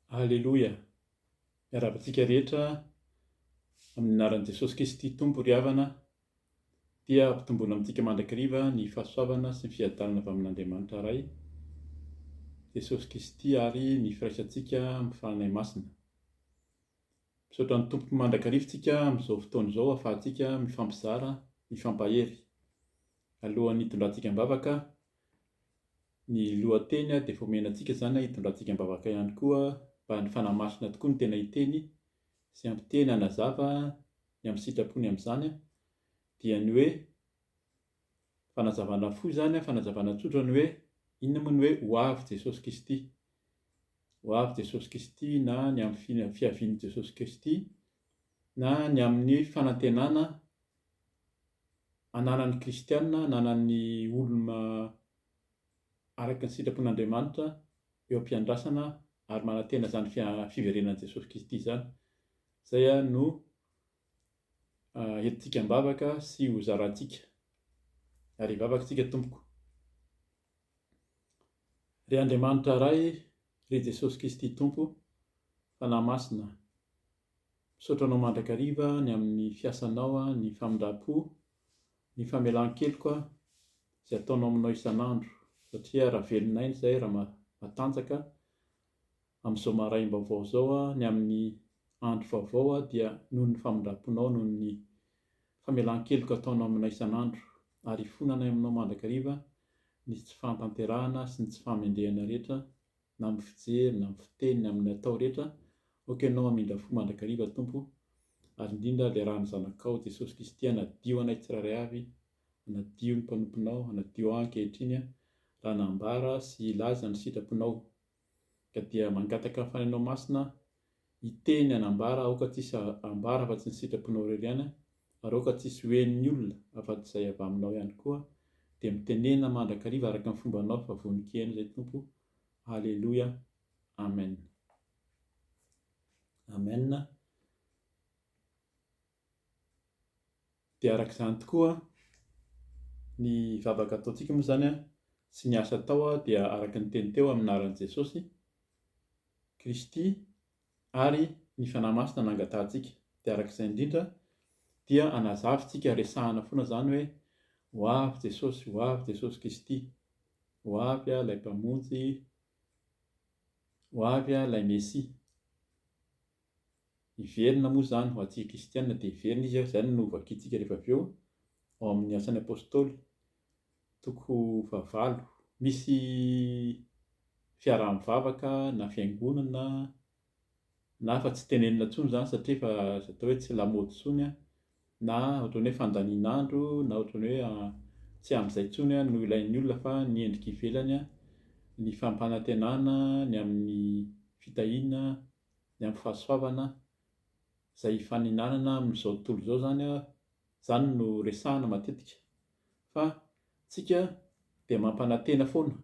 Aleloia! Miarahaba antsika rehetra amin'ny anaran'i Jesosy Kristy Tompo ry havana dia ampitomboina amintsika mandrakariva ny fahasoavana sy ny fiadanana avy amin'Andriamanitra Ray, Jesosy Kristy ary ny firaisantsika amin'ny Fanahy Masina. Misaotra ny Tompo mandrakariva antsika amin'izao fotoana izao ahafahantsika mifampizara, mifampahery. Alohan'ny hitondrantsika am-bavaka, Ny lohateny dia efa omena antsika izany an, hitondrantsika am-bavaka ihany koa mba ny Fanahy Masina tokoa no tena hiteny sy hampiteny hanazava ny amin'ny sitrapony amin'izany an, dia ny hoe fanazavana fohy izany an, fanazavana tsotra ny hoe inona moa ny hoe ho avy Jesosy Kristy, ho avy Jesosy Kristy na ny amin'ny fihavian'i Jesosy Kristy na ny amin'ny fanantenana ananan'ny kristiana, ananan'ny olona araka ny sitrapon'Andriamanitra eo am-piandrasana ary manantena izany fiverenan'i Jesosy Kristy izany. Izay no entintsika am-bavaka sy ho zarantsika. Ary hivavaka isika tompoko. Ry Andriamanitra Ray, ry Jesosy Kristy Tompo, Fanahy Masina, Misaotra anao mandrakariva ny amin'ny fiasanao, ny famindram-po, ny famelan-keloka izay ataonao aminao isan'andro satria raha velona aina izahay raha matanjaka amin'izao maraim-baovao izao ny amin'ny andro vaovao dia noho ny famindram-ponao, noho ny famelan-keloka ataonao aminay isan'andro ary ifonanay aminao mandrakariva ny tsy fahatanterahana sy ny tsy fahamendrehana rehetra na amin'ny fijery, na amin'ny fiteny, na amin'ny atao rehetra, aoka ianao hamindra fo mandrakariva, Tompo, ary indrindra liarahan'ny Zanakao, Jesosy Kristy, hanadio anay tsirairay avy, hanadio ny mpanomponao, hanadio ahy ankehitriny, raha nambara sy hilaza ny sitraponao. Ka dia mangataka ny Fanahinao Masina Hiteny hanambara aoka tsisy hambara afa-tsy ny sitraponao irery ihany ary aoka tsisy ho henon'ny olona afa-tsy izay avy aminao ihany koa, dia mitenena mandrakariva araka ny fombanao fa vonon-kihena izay Tompo o, Aleloia, Amen. Amen. Dia araka izany tokoa ny vavaka ataontsika moa izany sy ny asa atao dia araka ny teny teo amin'ny anaran'i Jesosy Kristy ary ny Fanahy Masina no angatahantsika. Dia araka izay indrindra dia anazavintsika, resahina foana izany hoe ho avy Jesosy, ho avy Jesosy Kristy, ho avy ilay Mpamonjy, ho avy ilay Mesia. Hiverina moa izany ho antsika kristiana dia hiverina izy ary izany no ho vakintsika rehefa avy eo ao amin'ny Asan'ny Apostoly, toko fahavalo. Misy fiaraha-mivavaka na fiangonana na efa tsy tenenina intsony izany satria efa azo atao hoe tsy lamaody intsony na ohatran'ny hoe fandanian'andro na ohatran'ny hoe tsy amin'izay intsony no ilain'ny olona fa ny endrika ivelany, ny fampanantenana ny amin'ny fitahiana. ny amin'ny fahasoavana izay hifaninanana amin'izao tontolo izao izany an, izany no resahana matetika fa tsika dia mampanantena foana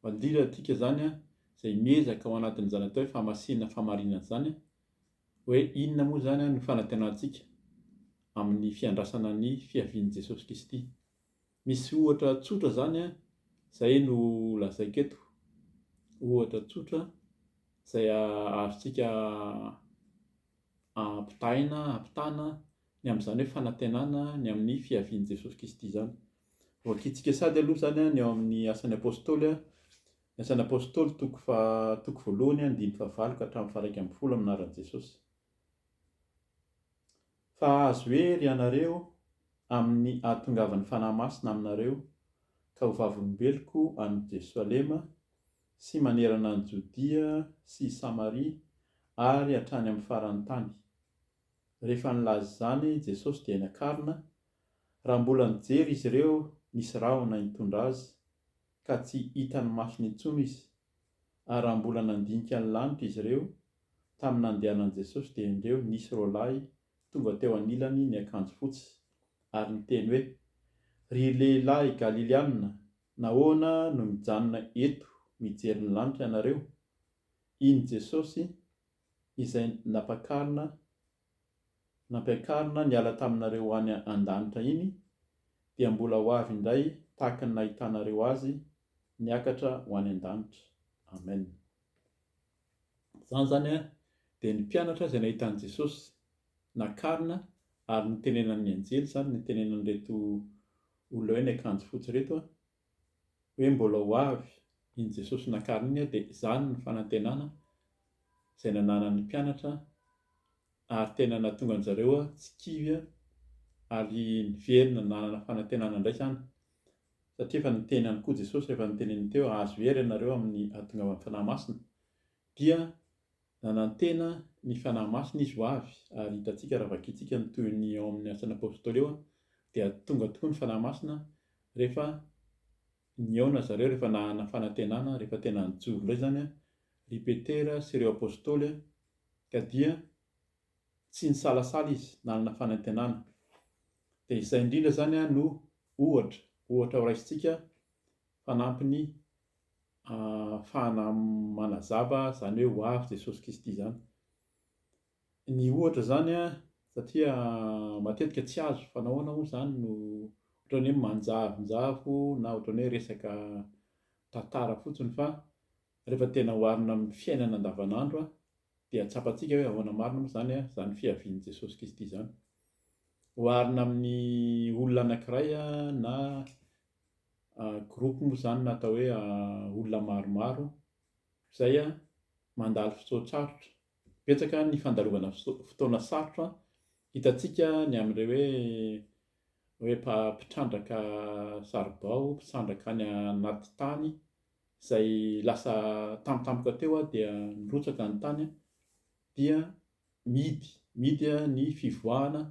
mandirantika izany an, izay miezaka ao anatin'izany atao hoe famasinana famarinana izany an, hoe inona moa izany an no fanantenantsika amin'ny fiandrasana ny fiavian'i Jesosy Kristy. Misy ohatra tsotra izany an, izay no lazaiko eto, ohatra tsotra izay azontsika ampitahaina, ampitahana ny amin'izany hoe fanantenana ny amin'ny fiavian'i Jesosy Kristy izany. Hoakiantsika sady aloha izany ny ao amin'ny Asan'ny Apôstôly, ny Asan'ny Apôstôly toko faha- toko voalohany andininy fahavalo ka hatramin'ny faha-iraika ambin'ny folo amin'ny anaran'i Jesosy. Fa hahazo hery ianareo amin' ny hahatongavan' ny Fanahy Masina aminareo, ka ho vavolombeloko any Jerosalema, sy manerana any Jodia sy i Samaria, ary hatrany amin' ny faran' ny tany. Rehefa nilaza izany Jesosy dia niakarina, raha mbola nijery izy ireo nisy rahona hitondra Azy, ka tsy hitan' ny masony intsony Izy. Ary raha mbola nandinika ny lanitra izy ireo, tamin'ny nandehanan'i Jesosy dia endreo nisy roalahy tonga teo anilany niakanjo fotsy, ary niteny hoe, Ry lehilahy Galiliana, nahoana no mijanona eto mijery ny lanitra ianareo? Iny Jesosy izay napakarina nampiakarina niala taminareo any an-danitra iny dia mbola ho avy indray tahaka ny nahitanareo azy niakatra ho any an-danitra. Amen. Izany izany dia ny mpianatra izay nahita an'i Jesosy nakarina ary nitenenan'ny anjely izany, nitenenan'ireto olona hoe ny akanjo fotsy ireto, hoe mbola ho avy iny Jesosy nakarina iny dia izany ny fanantenana izay nananan'ny mpianatra ary tena nahatonga an-dry zareo tsy kivy ary niverina nanana fanantenana indray izany satria efa niteny ihany koa Jesosy, efa noteneniny teo, azo hery ianareo amin'ny hahatongavan'ny Fanahy Masina. Dia nanantena ny Fanahy Masina izy ho avy, ary hitantsika raha vakintsika ny tohiny ao amin'ny Asan'ny Apostoly eo, dia tonga tokoa ny Fanahy Masina rehefa nihaona zareo, rehefa nanana fanantenana, rehefa tena nijoro indray izany ry Petera sy ireo Apostoly, ka dia tsy nisalasala izy, nanana fanantenana. Dia izay indrindra izany no ohatra, ohatra horaisintsika Fanampiny ahafahana manazava izany hoe ho avy Jesosy Kristy izany. Ny ohatra izany satria matetika tsy azo fa nahoana moa izany no ohatran'ny hoe manjavonjavo na ohatran'ny hoe resaka tantara fotsiny fa rehefa tena oharina amin'ny fiainana andavanandro dia tsapantsika hoe ahoana marina moa izany izany fiavian'i Jesosy Kristy izany. Oharina amin'ny olona anankiray na Groupe moa izany na atao hoe olona maromaro izay mandalo fotoan-tsarotra. Betsaka ny fandalovana fotoana sarotra hitantsika ny amin'ireo hoe mpitrandraka saribao, mpitrandraka any anaty tany izay lasa tampotampoka teo dia nirotsaka ny tany dia mihidy, mihidy ny fivoahana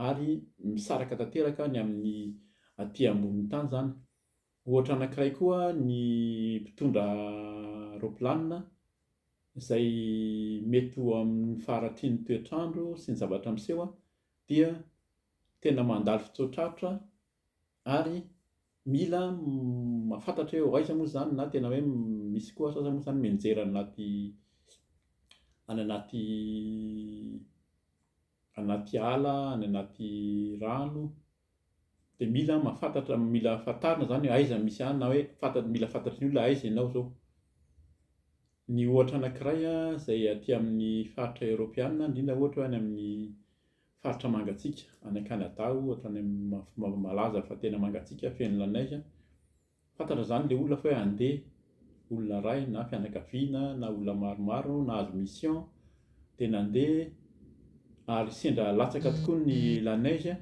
ary misaraka tanteraka ny amin'ny aty ambonin'ny tany izany. Ohatra anankiray koa ny mpitondra raopilanina izay mety ho amin'ny faharatrin'ny toetr'andro sy ny zavatra miseho dia tena mandalo fitsoa-traritra ary mila mahafantatra hoe aiza moa izany na tena hoe misy koa sasany moa izany mianjera any anaty any anaty anaty ala, any anaty rano dia mila mahafantatra, mila fantarina izany hoe aiza misy anà na hoe fanta- mila fantatry ny olona hoe aiza ianao izao. Ny ohatra anankiray a izay aty amin'ny faritra eoropeana indrindra ohatra hoe any amin'ny Faritra mangatsiaka, any Canada ohatra, any amin'ny malaza fa tena mangatsiaka, feno la neige, fantatra izany ilay olona fa hoe handeha, olona iray na fianakaviana na olona maromaro nahazo mission dia nandeha ary sendra latsaka tokoa ny la neige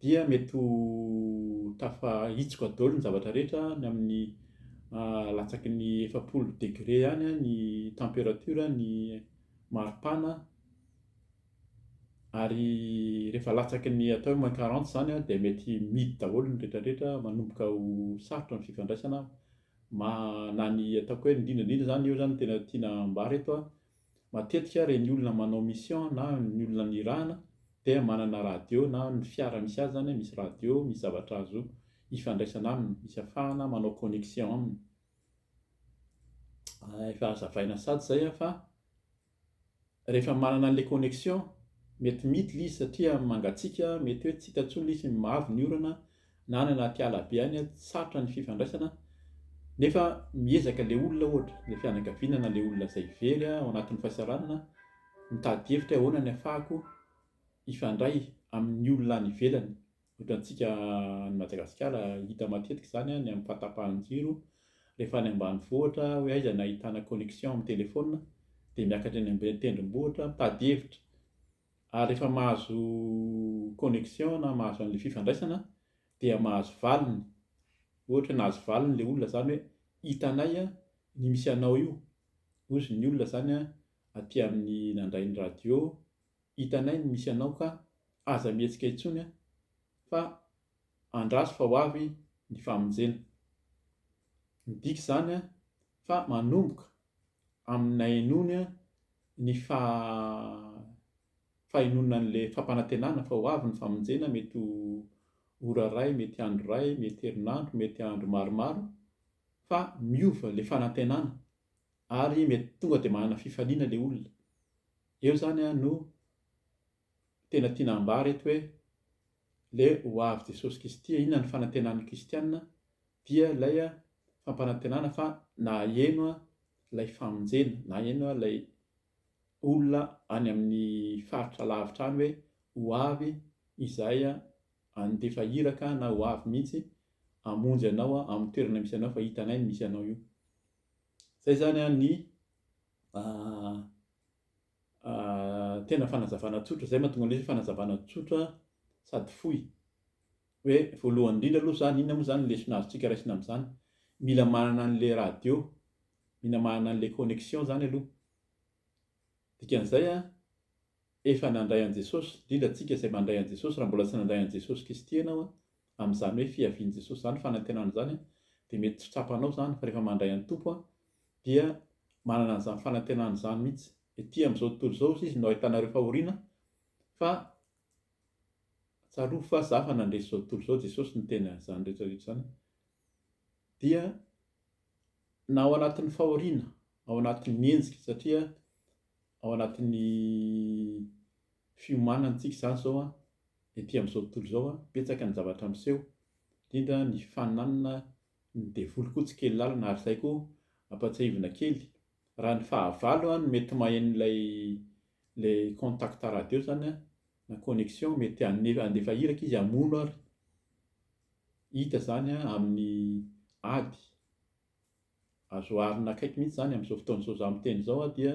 dia mety ho tafahitsoka daholo ny zavatra rehetra any amin'ny latsaky ny efapolo degré any ny temperature ny maripana Ary rehefa latsaky ny atao hoe moins quarante izany an, dia mety midy daholo ny rehetrarehetra, manomboka ho sarotra ny fifandraisana ma, na ny ataoko hoe indrindra indrindra izany, eo izany no tena tiana ambara eto an, matetika ireny olona manao mission na ny olona nirahana dia manana radio na ny fiara misy azy izany misy radio, misy zavatra azo ifandraisana aminy, misy afahana manao connexion aminy. Efa hazavaina sady izay an fa Rehefa manana an'ilay connexion, mety miditra ilay izy satria mangatsiaka, mety hoe tsy hita intsony ilay izy, mavo ny orana, na any anaty ala be any, sarotra ny fifandraisana, nefa miezaka ilay olona ohatra, ilay fianakaviana na ilay olona izay very ao anatin'ny fahasahiranana, mitady hevitra hoe ahoana ny hahafahako hifandray amin'ny olona any ivelany, Ohatrantsika any Madagasikara hita matetika izany an, ny amin'ny fahatapahan'ny jiro, rehefa any ambanivohitra hoe aiza no ahitana connexion amin'ny telephone dia miakatra eny ambony tendrombohitra mitady hevitra, ary rehefa mahazo connexion na mahazo an'ilay fifandraisana dia mahazo valiny, ohatra hoe nahazo valiny ilay olona izany hoe hitanay ny misy anao io, hozy ny olona izany an aty amin'ny nandray ny radio, Hitanay ny misy anao ka aza mihetsika intsony a! Fa andraso fa ho avy ny famonjena. Midika izany fa manomboka amin'ny nahenoany ny fahenoany an'ilay fampanantenana fa ho avy ny famonjena, mety ho ora iray, mety andro iray, mety herinandro, mety andro maromaro, fa miova ilay fanantenana ary mety tonga dia manana fifaliana ilay olona. Eo zany an no tena tiana ambara eto hoe le ho avy Jesosy Kisty an inona ny fanantenan'ny Kristianina dia lay an fampanantenana fa na aheno an lay famonjena na aheno an lay olona any amin'ny faritra lavitra any hoe ho avy izahay an andefa iraka an na ho avy mihitsy hamonjy anao an amin'ny toerana misy anao fa hitanay ny misy anao io zay zany an ny Tena fanazavana tsotra izay, mahatonga an'ilay izy hoe fanazavana tsotra sady fohy. Hoe voalohany indrindra aloha izany, inona moa izany ny lesona azontsika raisina amin'izany? Mila manana an'ilay radio, mila manana an'ilay connexion izany aloha. Dikan'izay an, efa nandray an'i Jesosy, indrindra antsika izay mandray an'i Jesosy, raha mbola tsy nandray an'i Jesosy Kristy ianao, amin'izany hoe fiavian'i Jesosy izany, fanantenana izany, dia mety tsy tsapanao izany, fa rehefa mandray an'i Tompo aho, dia manana an'izany fanantenana izany mihitsy. Ety amin'izao tontolo izao hozy Izy no ahitanareo fahoriana, fa tsarovy fa za efa nandresy izao tontolo izao, Jesosy niteny an'izany rehetra rehetra izany, dia na ao anatin'ny fahoriana, ao anatin'ny henjika, satria ao anatin'ny fiomanantsika izany izao an, ety amin'izao tontolo izao an, betsaka ny zavatra miseho, indrindra ny fananana ny devoly koa tsy kely lalina, ary izay koa ampatsiahivina kely, raha ny fahavalo no mety maheno ilay ilay contact radio izany an, na connexion, mety handefa iraka izy hamono ary, hita izany an, amin'ny ady Azo oharina akaiky mihitsy izany amin'izao fotoan'izao izaho miteny izao aho dia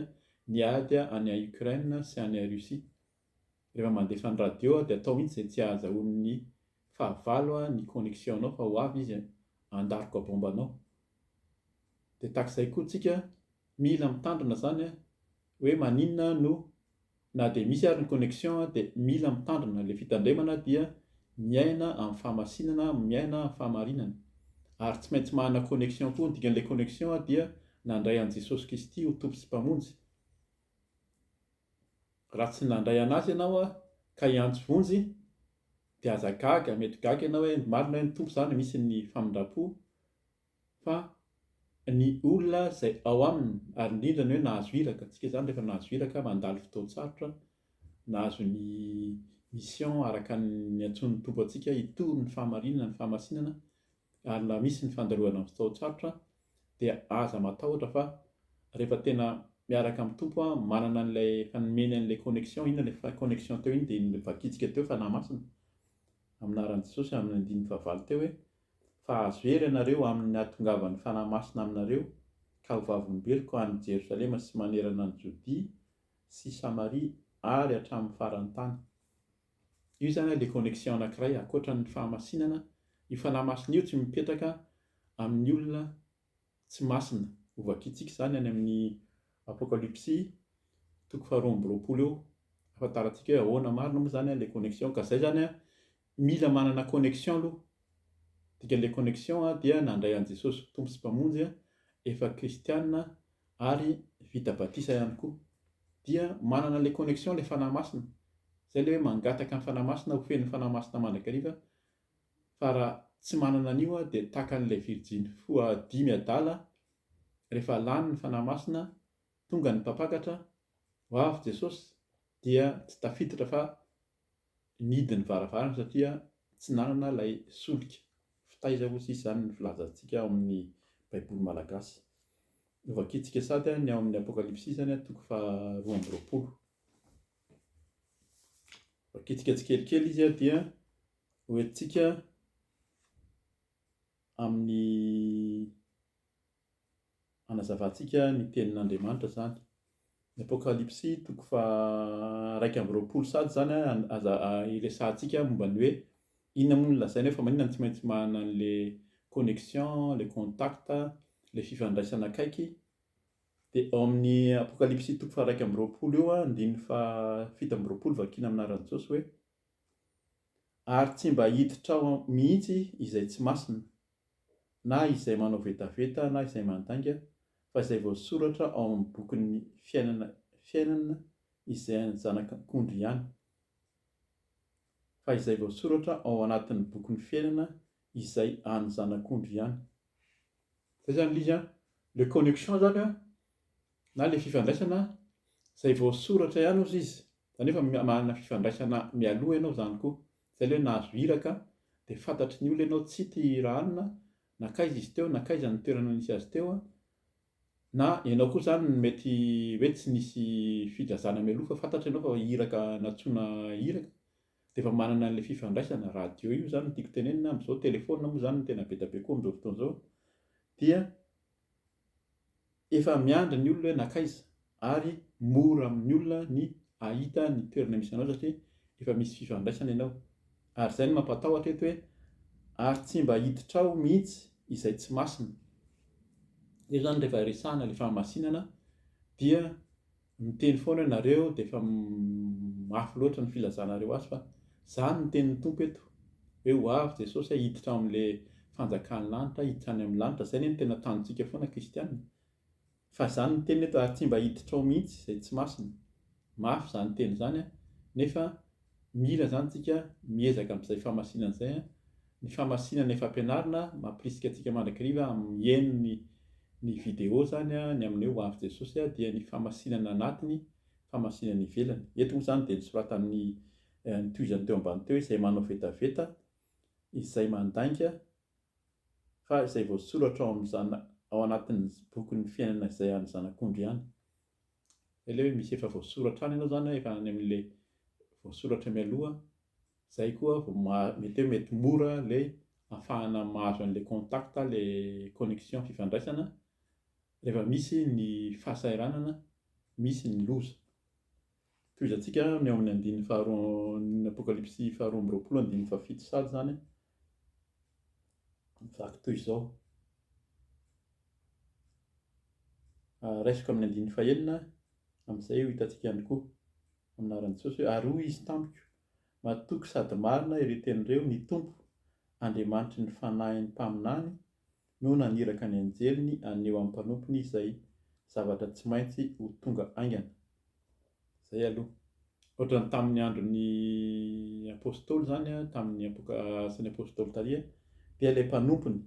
ny ady any Ukraine sy any Russie. Rehefa mandefa ny radio aho dia atao mihitsy izay tsy ahazahoan'ny fahavalo ny connexion-nao fa ho avy izy handaroka bomba anao. Dia tahaka izay koa tsika Mila mitandrina zany a, hoe maninona no na dia misy ary ny connexion dia mila mitandrina, ilay fitandremana dia miaina amin'ny fahamasinana, miaina amin'ny fahamarinana, ary tsy maintsy manana connexion koa, ny dikan'ilay connexion dia nandray an'i Jesosy Kristy ho Tompo sy Mpamonjy, raha tsy nandray an'Azy ianao ka hiantso vonjy dia aza gaga, mety gaga ianao hoe marina hoe ny Tompo zany misy ny famindram-po, Fa ny olona izay ao aminy, ary indrindra ny hoe nahazo iraka, tsika izany rehefa nahazo iraka, mandalo fotoan-tsarotra, nahazo ny mission araka ny antsoin'ny Tompo antsika hitory ny fahamarinana, ny fahamasinana, ary na misy ny fandalohana amin'ny fotoan-tsarotra, dia aza matahotra fa rehefa tena miaraka amin'ny Tompo an, manana an'ilay efa nomeny an'ilay connexion, inona ilay fa connexion teo iny dia iny vakitsika teo, Fanahy Masina, amin'ny anaran'i Jesosy, amin'ny andininy fahavalo teo hoe, Fa azo hery ianareo amin' ny hahatongavan' ny Fanahy Masina aminareo, ka ho vavolombeloko any Jerosalema sy manerana ny Jodia sy Samaria ary hatramin' ny faran' ny tany. Io izany ilay connexion anankiray ankoatran' ny fahamasinana, io Fanahy Masina io tsy mipetraka amin' ny olona tsy masina. Hovakiantsika izany any amin'ny Apokalypsy toko faharoa amby roapolo eo. Hahafantarantsika hoe ahoana marina moa izany ilay connexion. Ka izay izany, mila manana connexion aloha. Dikan'ilay connexion dia nandray an'i Jesosy ho Tompo sy Mpamonjy, efa kristiana ary vita batisa ihany koa. Dia manana an'ilay connexion ilay fanahy masina. Izay ilay hoe mangataka ny fanahy masina, ho fenon'ny fanahy masina mandrakariva fa raha tsy manana an'io aho dia taka an'ilay virjiny foha dimy adala rehefa lany ny Fanahy Masina tonga ny mpampakatra ho avy Jesosy dia tsy tafiditra fa nidy ny varavarana satria tsy nanana ilay solika. Fa taiza osa izany ny filazantsika ao amin'ny baiboly malagasy? Novakintsika sady ny ao amin'ny apokalypsy izany toko faha roa amby roapolo. Vakintsika tsikelikely izy dia. Ho entintsika amin'ny hanazavantsika ny tenin'Andriamanitra izany. Ny Apokalypsy toko faha iraika amby roapolo sady izany an, aza iresahantsika momba ny hoe inona moa no lazaina eo fa maninona no tsy maintsy manana an'ilay connexion, ilay contact, ilay fifandraisana akaiky. Dia ao amin'ny Apokalypsy toko faha iraika amby roapolo eo an, andininy faha fito amby roapolo vakiana amin'ny anaran'i Jesosy hoe, Ary tsy mba hiditrao mihitsy izay tsy masina, na izay manao vetaveta na izay mandainga, fa izay voasoratra ao amin'ny bokin'ny fiainana fiainana izay an'ny Zanak'Akondry ihany. Fa izay voasoratra ao anatin'ny bokin'ny fiainana izay an'ny Zanak'Ondry ihany. Izay izany ilay izy an! Le connection izany an! Na ilay fifandraisana izay voasoratra ihany ozy izy, izany hoe efa manana fifandraisana mialoha ianao izany koa, izay ilay hoe nahazo iraka dia fantatry ny olona ianao tsy ity hira anona, nankaiza izy teo, nankaiza ny toerana nisy azy teo, na ianao koa izany no mety hoe tsy nisy filazana mialoha fa fantatra ianao fa iraka nantsoina iraka, dia efa manana an'ilay fifandraisana, radio io izany no tiako tenenina, amin'izao telefaonina moa izany no tena be dia be koa amin'izao fotoana izao, dia. Efa miandry ny olona hoe nankaiza ary mora amin'ny olona ny hahita ny toerana misy anao satria efa misy fifandraisana ianao. Ary izay no mampatahotra eto hoe ary tsy mba hiditra ao mihitsy izay tsy masina. Io izany rehefa resahana ilay fahamasinana dia Miteny foana ianareo dia efa mafy loatra ny filazanareo azy fa izany no tenin'ny Tompo eto hoe ho avy Jesosy a hiditra ao amin'ilay fanjakan'ny lanitra hiditra any amin'ny lanitra izay anie no tena tanjontsika foana kristiana fa izany no teniny eto ary tsy mba hiditra ao mihitsy izay tsy masina mafy izany teny izany a nefa Mila izany tsika miezaka amin'izay famasinana izay an! Ny famasinana efa ampianarina mampirisika antsika mandrakiriva amin'ny mihaino ny ny video izany an! Ny amin'ny hoe ho avy Jesosy an! dia ny famasinana anatiny, famasinana ivelany. Eto moa izany dia nosoratan'ny nitohizany teo ambany teo hoe izay manao vetaveta, izay mandainga, fa izay voasoratra ao amin'izany ao anatin'ny bokin'ny fiainana izay an'ny zanak'ondry ihany. Ilay hoe misy efa voasoratra any ianao izany hoe efa any amin'ilay voasoratra mialoha, izay koa vao maha, mety hoe mety mora ilay ahafahana mahazo an'ilay contact, ilay connexion fifandraisana rehefa misy ny fahasahiranana, misy ny loza. Tohizantsika ny ao amin'ny andininy faharoa ny Apokalypsy faharoa amby roapolo andininy fahafito sady izany. Vaky toy izao. Ah, raisiko amin'ny andininy fahenina, amin'izay ho hitantsika ihany koa amin'aran'i Jesosy hoe ary hoy izy tamiko, matoky sady marina ireo teny ireo ny Tompo, Andriamanitry ny fanahin'ny mpaminany, no naniraka ny anjeliny haneho amin'ny mpanompony izay zavatra tsy maintsy ho tonga haingana. Izay aloha. Ohatran'ny tamin'ny andron'ny Apostoly izany, tamin'ny Apoka, Asan'ny Apostoly taria, dia ilay mpanompony,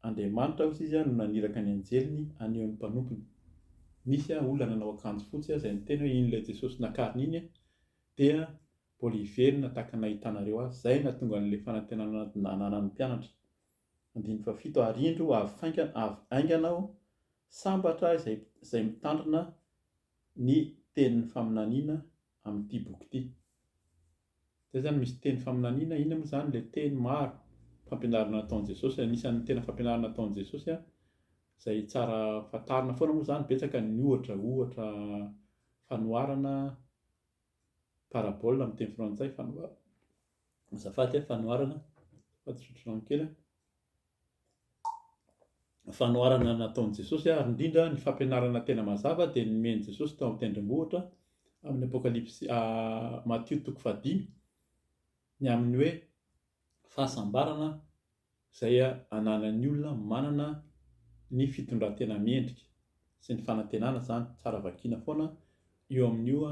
Andriamanitra hozy izy, no naniraka ny anjeliny haneho ny mpanompony. Nisy olona nanao akanjo fotsy izay niteny hoe iny ilay Jesosy nakarina iny dia mbola hiverina tahaka ny nahitanareo azy. Izay no nahatonga an'ilay fanantenana nananan'ny mpianatra. Andininy fahafito, Ary indro, ho avy faingana, avy haingana aho, sambatra izay, izay mitandrina ny tenin'ny faminaniana amin'ity boky ity. Izay izany misy teny faminaniana, inona moa izany ilay teny maro, fampianarana nataon'i Jesosy, anisan'ny tena fampianarana nataon'i Jesosy izay tsara fantarina foana moa izany, betsaka ny ohatra, ohatra fanoharana, parabole amin'ny teny frantsay, fanoharana. Azafady a, fanoharana fa tsotry rano kely a. Fanoharana nataon'i Jesosy ary indrindra ny fampianarana tena mazava dia ny nomen'i Jesosy tao amin'ny tendrombohitra amin'ny Apokalypsy Matio toko fahadimy ny amin'ny hoe fahasambarana izay ananan'ny olona manana ny fitondran-tena mendrika sy ny fanantenana izany, tsara vakiana foana io amin'io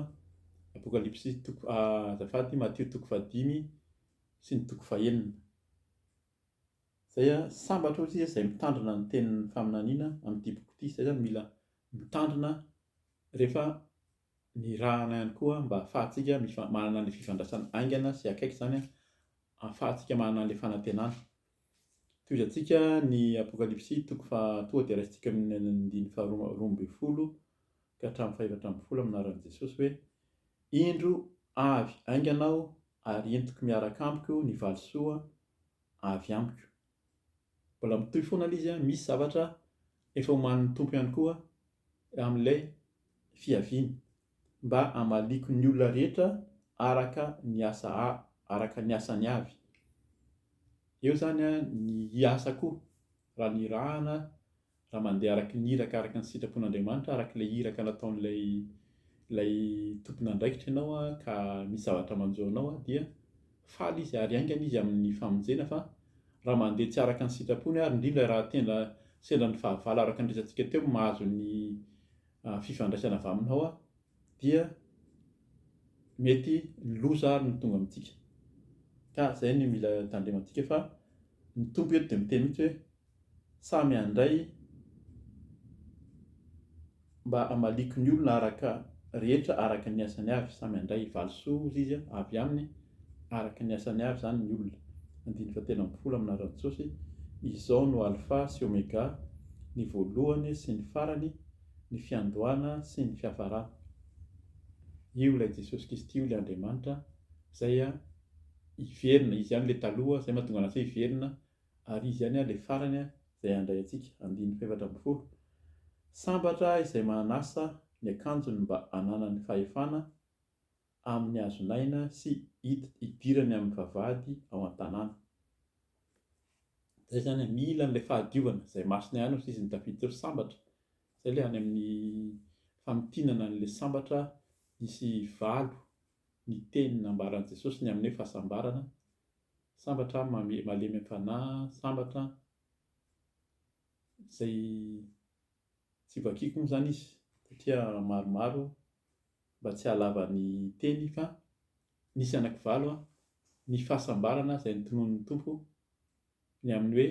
Apokalypsy toko azafady Matio toko fahadimy sy ny toko fahenina izay sambatra hoy isika izay mitandrina ny tenin'ny faminaniana amin'ny diboka ity, izay izany mila mitandrina rehefa Nirahana ihany koa mba hafahantsika manana an'ilay fifandraisana haingana sy akaiky izany, hafahantsika manana an'ilay fanantenana. Tohizantsika ny Apokalypsy toko faha tonga dia raisintsika amin'ny andininy faharoa roa ambin'ny folo ka hatramin'ny fahefatra ambin'ny folo amin'ny anaran'i Jesosy hoe, Indro avy haingana aho ary entiko miaraka amiko ny valisoa avy amiko. Mbola mitohy foana ilay izy an, misy zavatra efa omanin'ny Tompo ihany koa amin'ilay fiaviany mba hamaliako ny olona rehetra araka ny asa araka ny asany avy. Eo izany an ny hiasako raha nirahana raha mandeha araka ny iraka araka ny sitrapon'Andriamanitra, araka ilay iraka nataon'ilay ilay tompon'andraikitra ianao an, ka misy zavatra manjo anao an, dia faly izy ary haingana izy amin'ny famonjena fa raha mandeha tsy araka ny sitrapony ary indrindra raha tena sendra ny fahavalo araka ny resatsika teo mahazo ny ah, fifandraisana avy aminao an, dia mety ny loza ary no tonga amintsika ka izay no mila tandremantsika fa ny tompo eto dia miteny mihitsy hoe Samy handray mba hamaliako ny olona araka rehetra araka ny asany avy, samy handray valisoa hozy izy a, avy aminy araka ny asany avy izany ny olona. Andininy fahatelo ambin'ny folo amina Rantsosy, Izao no Alfa sy Omega, ny voalohany sy ny farany, ny fiandohana sy ny fiafarana. Io ilay Jesosy Kristy io ilay Andriamanitra izay hiverina, izy ihany ilay taloha izay mahatonga antsay hiverina, Ary izy ihany ilay farany izay handray antsika, andininy fahefatra ambin'ny folo, Sambatra izay manasa ny akanjony mba hananany fahefana amin'ny hazon'aina sy hidirany amin'ny vavahady ao an-tanàna. Izay izany, mila an'ilay fahadiovana izay masina ihany hoy ny tafiditra hoe sambatra. Izay ilay any amin'ny famintinana an'ilay sambatra nisy valo ny teny nambaran'i Jesosy ny amin'ny hoe fahasambarana, Sambatra aho mamy malemy am-panahy sambatra izay tsy vakiako moa izany izy satria maromaro mba tsy hahalava ny teny fa nisy anaky valo ny fahasambarana izay notononin'ny Tompo ny amin'ny hoe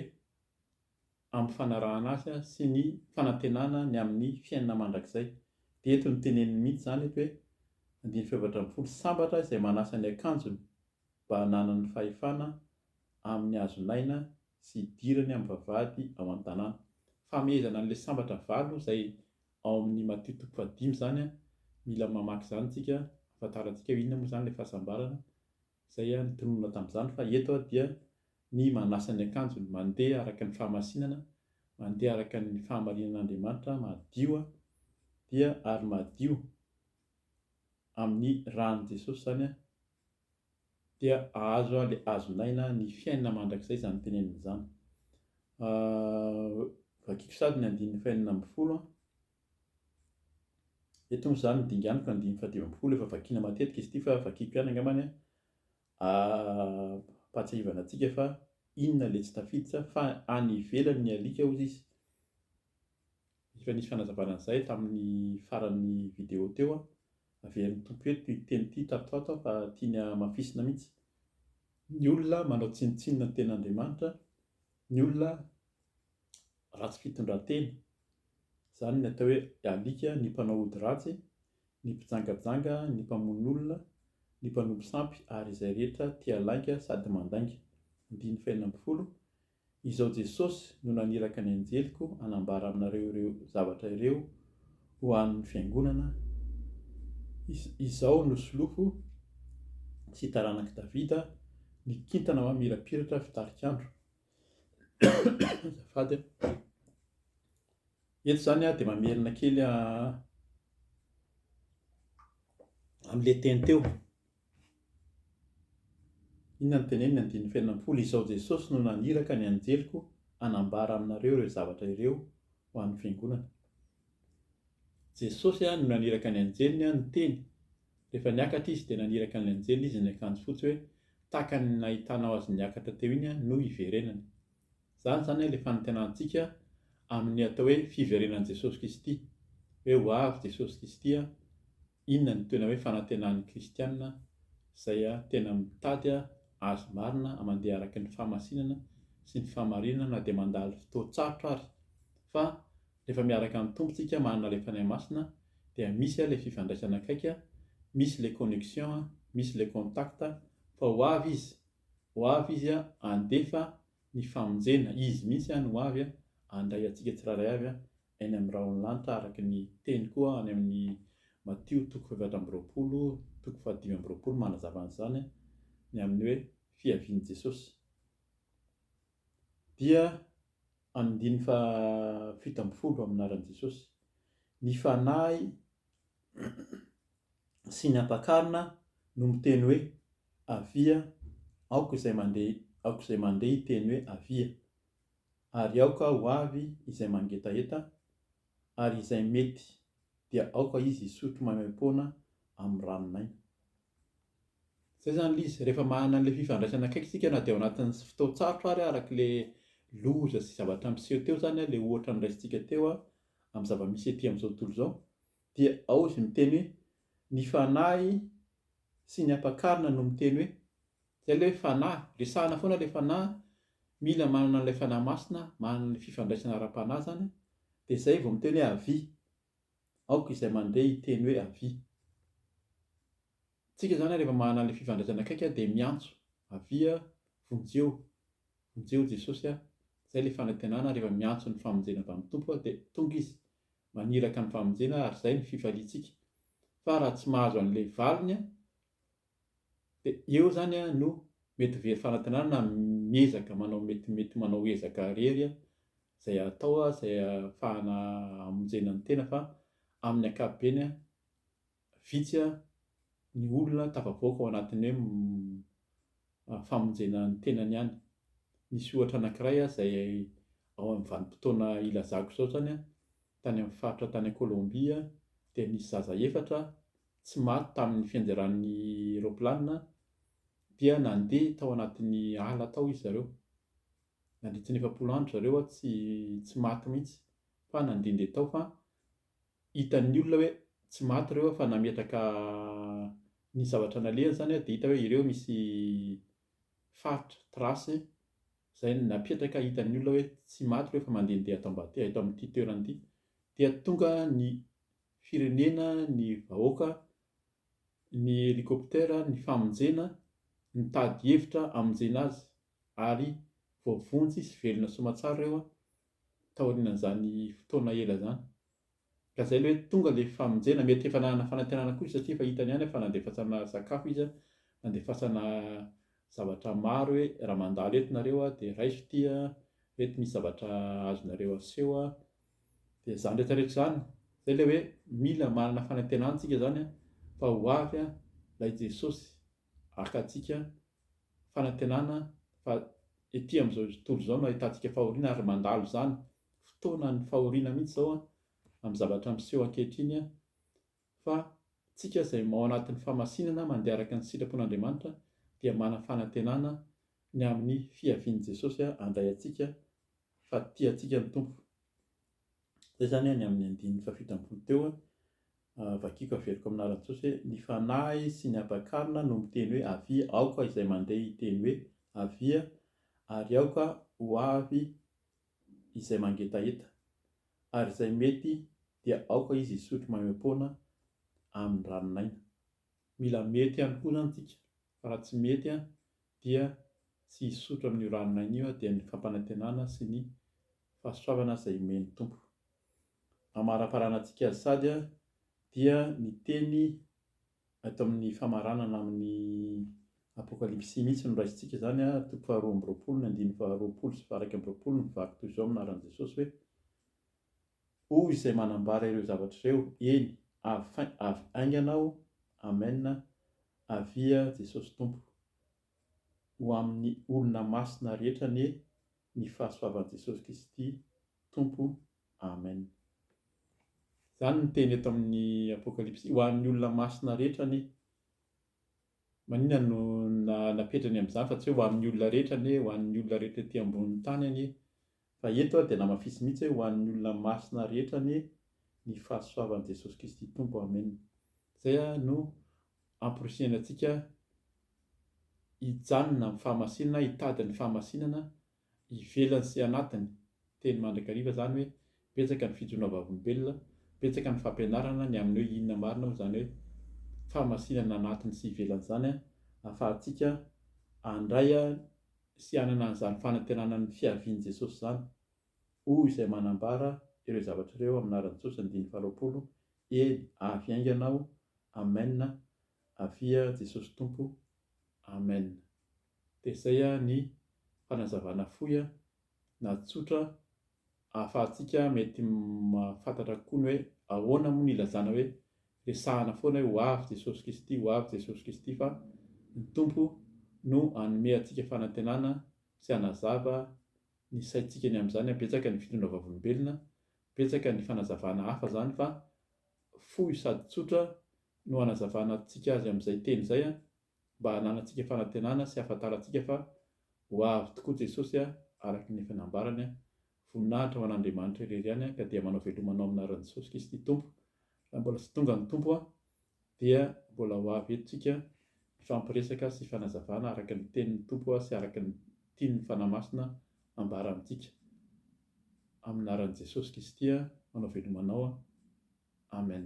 ampifanarahana azy sy ny fanantenana ny amin'ny fiainana mandrakizay. Dia eto no teneniny mihitsy izany eto hoe, andininy fahefatra ambin'ny folo, Sambatra izay manasa ny akanjony mba hananany ny fahefana amin'ny hazon'aina sy hidirany amin'ny vavahady ao an-tanàna. Famehezana an'ilay sambatra valo izay ao amin'ny Matio toko fahadimy izany. Mila mamaky izany isika hahafantarantsika hoe inona moa izany ilay fahasambarana Izay aho nitonona tamin'izany fa eto aho dia ny manasa ny akanjony, mandeha araka ny fahamasinana, mandeha araka ny fahamarinan'Andriamanitra, madio aho, dia ary madio amin'ny ran'i Jesosy izany aho, dia ahazo aho ilay azon'aina, ny fiainana mandrakizay izany tenenina izany. Vakiko sady ny andininy fahenina ambin'ny folo an. Eto moa izany ny dinganoko andininy fahadimy ambin'ny folo efa vakiana matetika izy ity fa vakiako ihany angambany an, ampahatsiahivana antsika fa inona ilay tsy tafiditra fa any ivelany ny alika hozy izy. Efa nisy fanazavana an'izay tamin'ny faran'ny video teo an, averin'ny Tompo eto ity teny ity tato ho ato an fa tiany hamafisina mihitsy. Ny olona manao tsinontsinona ny tenin'Andriamanitra, ny olona ratsy fitondran-tena. Izany ny atao hoe alika, ny mpanao ody ratsy, ny mpijangajanga, ny mpamono olona, ny mpanompo sampy ary izay rehetra tia lainga sady mandainga. Andininy fahenina ambin'ny folo, Izaho Jesosy no naniraka ny anjeliko hanambara aminareo ireo zavatra ireo ho an'ny fiangonana, Izaho no solofo sy taranak'i Davida, ny kintana mamirapiratra fitarik'andro. Azafady a. Eto izany aho dia mamerina kely amin'ilay teny teo. Inona no teneniny? Andininy fahenina ambin'ny folo, Izaho Jesosy no naniraka ny anjeliko hanambara aminareo ireo zavatra ireo ho an'ny fiangonana. Jesosy no naniraka ny anjeliny no teny. Rehefa niakatra izy dia naniraka ny anjeliny izy niakanjo fotsy hoe tahaka ny nahitanao azy niakatra teo iny no hiverenany. Izany izany ilay fanantenantsika amin'ny atao hoe fiverenan'i Jesosy Kristy. Hoe ho avy Jesosy Kristy a, inona no tena hoe fanantenan'ny kristiana izay tena mitady Azy marina mandeha araka ny fahamasinana sy ny fahamarinana na dia mandalo fotoan-tsarotra ary. Fa Rehefa miaraka amin'ny Tompo tsika manana ilay Fanahy Masina dia misy ilay fifandraisana akaiky, misy ilay connexion, misy ilay contact, fa ho avy Izy, ho avy Izy handefa ny famonjena, Izy mihitsy any ho avy handray antsika tsirairay avy any amin'ny rahon'ny lanitra araka ny teny koa any amin'ny Matio toko fahefatra amby roapolo toko fahadimy amby roapolo manazava an'izany ny amin'ny hoe fiavian'i Jesosy dia Andininy fahafito ambin'ny folo amin'ny anaran'i Jesosy. Ny Fanahy sy ny Ampakarina no miteny hoe, Avia, aoka izay mandeha, aoka izay mandeha hiteny hoe, Avia! Ary aoka ho avy izay mangetaheta, ary izay mety dia aoka izy hisotro maimaim-poana amin'ny ranon'aina. Zay zany ilay izy, rehefa manana an'ilay fifandraisana akaiky isika na dia ao anatin'ny fotoan-tsarotra ary araka ilay loza sy zavatra niseho teo izany, ilay ohatra noraisintsika teo amin'ny zava-misy ety amin'izao tontolo izao, dia ao izy miteny hoe ny fanahy sy ny ampakarina no miteny hoe, izay ilay hoe fanahy, resahina foana ilay fanahy, mila manana an'ilay fanahy masina, manana ny fifandraisana ara-panahy izany, dia izay vao miteny hoe avis. Aoka izay mandeha hiteny hoe avia. Tsika zany rehefa manana anle fifandraisana akaiky an dia miantso, avia, vonjeo, vonjeo Jesosy a, zay le fanantenana rehefa miantso ny famonjena avy amin'ny Tompo aho dia tonga izy, maniraka ny famonjena ary zay ny fifaliantsika. Fa raha tsy mahazo anle valiny an, Dia eo zany no mety very fanantenana na miezaka manao mety mety manao ezaka irery izay atao izay ahafahana hamonjena ny tena fa amin'ny ankapobeny vitsy ny olona tafavoaka ao anatin'ny hoe famonjena ny tenany ihany. Nisy ohatra anankiray izay ao amin'ny vanim-potoana ilazako izao izany tany amin'ny faritra tany Colombie dia nisy zaza efatra tsy maty tamin'ny fianderan'ny raoplanina dia nandeha tao anatin'ny ala tao izy zareo. Nandritry ny efapolo andro zareo tsy tsy maty mihitsy fa nandehandeha tao fa hitan'ny olona hoe tsy maty ireo fa nametraka ny zavatra nalehany izany dia hita hoe ireo misy faritra, trace, izay napetraka hitan'ny olona hoe tsy maty ireo fa mandehandeha ato ambadika, eto amin'ity toerana ity. Dia tonga ny firenena, ny vahoaka, ny helicoptère, ny famonjena, nitady hevitra hamonjena azy ary voavonjy sy velona soamatsara ireo taorianan'izany fotoana ela izany. Ka izay ilay hoe tonga ilay famonjena, mety efa nanana fanantenana koa izy satria efa hitany ihany fa nandefasana sakafo izy, nandefasana zavatra maro hoe raha mandalo eto nareo dia raiso ity, eto misy zavatra azonareo aseho. Dia izany rehetra rehetra izany, izay ilay hoe mila manana fanantenana isika izany fa ho avy ilay Jesosy haka antsika, fanantenana fa ety amin'izao tontolo izao no ahitantsika fahoriana ary mandalo izany, fotoanan'ny fahoriana mihitsy izao amin'ny zavatra miseho ankehitriny Fa tsika izay ao anatin'ny famasinana mandeha araka ny sitrapon'Andriamanitra dia manana fanantenana ny amin'ny fiavian'i Jesosy handray antsika fa tia antsika ny Tompo. Izay izany ny amin'ny andininy fahafito ambin'ny folo teo, vakiako averiko amin'ny anaran'i Jesosy hoe, Ny fanahy sy ny hampakarina no miteny hoe avia, aoka izay mandeha hiteny hoe avia ary aoka ho avy izay mangetaheta, ary izay mety dia aoka izy hisotro maimaim-poana amin'ny ranon'aina. Mila mety ihany koa izany isika, fa raha tsy mety dia tsy hisotro amin'io ranon'aina io dia ny fampanantenana sy ny fahasoavana izay omen'ny Tompo. Amaraparanantsika azy sady dia ny teny Ato amin'ny famaranana amin'ny Apokalypsy mihitsy no raisintsika izany, toko faharoa amby roapolo, ny andininy faharoapolo sy faha-iraika amby roapolo, mivaky toy izao amin'ny anaran'i Jesosy hoe, Hoy izay manambara ireo zavatra ireo, eny, avy fain, avy haingana aho, Amen, Avia Jesosy Tompo. Ho amin'ny olona masina rehetra anie ny fahasoavan'i Jesosy Kristy Tompo. Amen. Izany no teny eto amin'ny Apokalypsy ho an'ny olona masina rehetra anie. Maninona no napetrany amin'izany fa tsy hoe ho amin'ny olona rehetra anie, ho an'ny olona rehetra ety ambonin'ny tany anie. Fa eto dia namafisy mihitsy hoe ho an'ny olona masina rehetra anie ny fahasoavan'i Jesosy Kristy Tompo. Amen. Izay no amporisihina antsika hijanona amin'ny fahamasinana, hitady ny fahamasinana ivelany sy anatiny, teny mandrakariva izany hoe betsaka ny fijonoana vavolombelona, betsaka ny fampianarana ny amin'ny hoe inona marina moa izany hoe fahamasinana anatiny sy ivelany izany ahafahantsika handray sy hanana an'izany fanantenana ny fiavian'i Jesosy izany. hoy izay manambara ireo zavatra ireo amin'ny anaran'i Jesosy andininy faharoapolo, eny, avy haingana aho, amen, avia Jesosy Tompo, amen. Dia izay ny fanazavana fohy na tsotra ahafahantsika mety mahafantatra kokoa ny hoe ahoana moa ny ilazana hoe resahana foana hoe ho avy Jesosy Kristy, ho avy Jesosy Kristy fa ny Tompo no hanome antsika fanantenana sy hanazava ny saintsika ny amin'izany, betsaka ny fitondra vavolombelona, betsaka ny fanazavana hafa izany fa fohy sady tsotra no anazavanantsika azy amin'izay teny izay mba hananantsika fanantenana sy hahafantarantsika fa ho avy tokoa Jesosy araka ny efa nambarany, Voninahitra ho an'Andriamanitra irery ihany ka dia manao veloma anao amin'ny anaran'i Jesosy Kristy Tompo raha mbola tsy tonga ny Tompo. dia mbola ho avy eto tsika hifampiresaka sy fanazavana araka ny tenin'ny Tompo sy araka ny tian'ny Fanahy Masina ambara amintsika. Amin'ny anaran'i Jesosy Kisty no avelomanao. Amen.